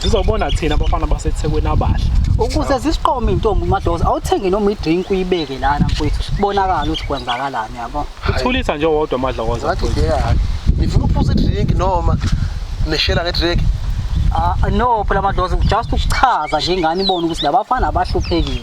Sizobona thina abafana baseThekwini abahle. Ukuze zisiqome intombi uMadoza awuthenge noma idrink uyibeke lana mfowethu sibonakala ukuthi kwenzakalani yabo. Uthulisa nje wodwa amadlokoza. Wathi ngeke. Nifuna ukuphuza idrink noma nishela ngedrink? Ah no phela Madoza just ukuchaza nje ingane ibone ukuthi labafana abahluphekile.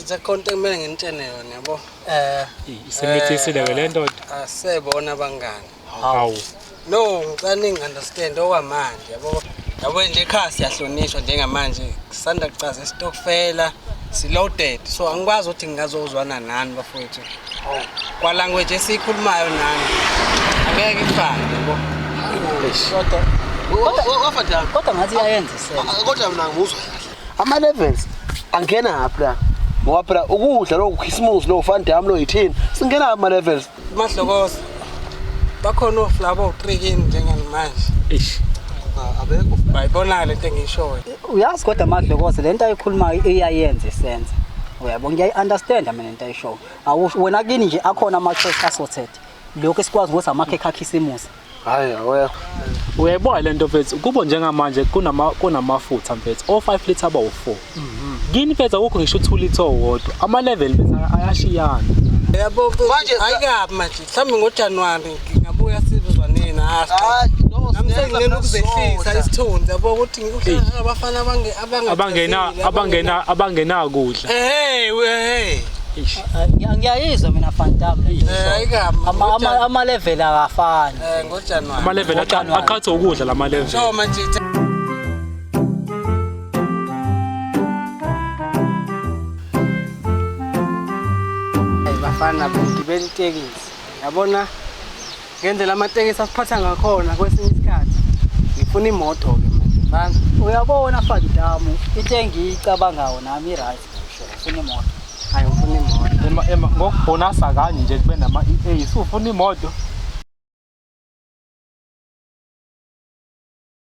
It's a content mina nginitshene yona yabo. Eh isemithisile ke lento. Asebona abangani. Hawu. No ngicela ningi understand okwamanje yabo. Yabo nje ekhaya siyahlonishwa njengamanje kusanda kucaza isitokfela siloaded so angikwazi ukuthi ngingazozwana nani bafowethu. Kwa language esiyikhulumayo nani. Angeke ifane yabo. Kodwa kodwa ngathi iyayenza isenzo. Kodwa mina ngimuzwa kahle. ama levels angena haphi la ngoba phela ukudla lokhu khisimusi lo fan dam lo yithini singena ama levels mahlokoza bakhona oflabo oqikini njengamanje ish abekho bayibona lento engishoyo uyazi kodwa madlokoze lento ayikhulumayo iyayenza isenza uyabo ngiyayi understand mina lento ayishoyo awusho wena kini nje akhona ama choice assorted lokho esikwazi ukuthi amakhekhe akhisimusi hayi awekho uyayibona lento mfethu kubo njengamanje kunama kunamafutha mfethu o 5 liter aba u4 kini mfethu akukho ngisho u2 liter owodwa ama level mfethu ayashiyana yabo Manje- ayikabi manje mhlawumbe ngojanuwari ngingabuya sizwa nina Hayi, no, nami senginena ukuzehlisa isithunzi yabo ukuthi abafana bange abangena abangena abangena kudla hey hey ngiyayizwa mina fantam ama level akafani eh ngojanuary ama level aqhatha ukudla lama level so majita bafana bengibela itekisi yabona ngendlela amatekisi asiphatha ngakhona kwesinye isikhathi ngifuna imoto-ke manje banga uyabona fandamu into engiyicabangawo nami i-right ngisho ngifuna imoto hayi ngifuna imoto Ema ema ngokubonasa kanye nje kube nama EA sufuna imoto.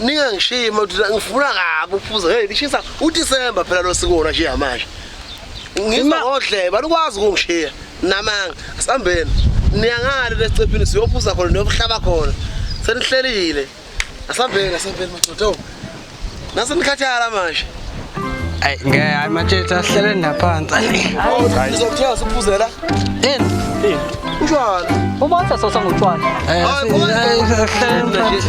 ningangishiyi madoda ngifuna kabi ukuphuza hey lishisa udisemba phela lo sikona nje yamanje ngima odleba likwazi ukungishiya namanga asihambeni niyangale lesicephini siyophuza khona niyobuhlaba khona senihlelile asihambeni asihambeni madoda nase nikhathala manje Ay ngeke hayi matshethu ahlele naphansi. Hayi ngizokuthiya siphuzela. Yini? Yini? Utshwala. Ubatha sosa ngotshwala. Eh, ahlele naphansi.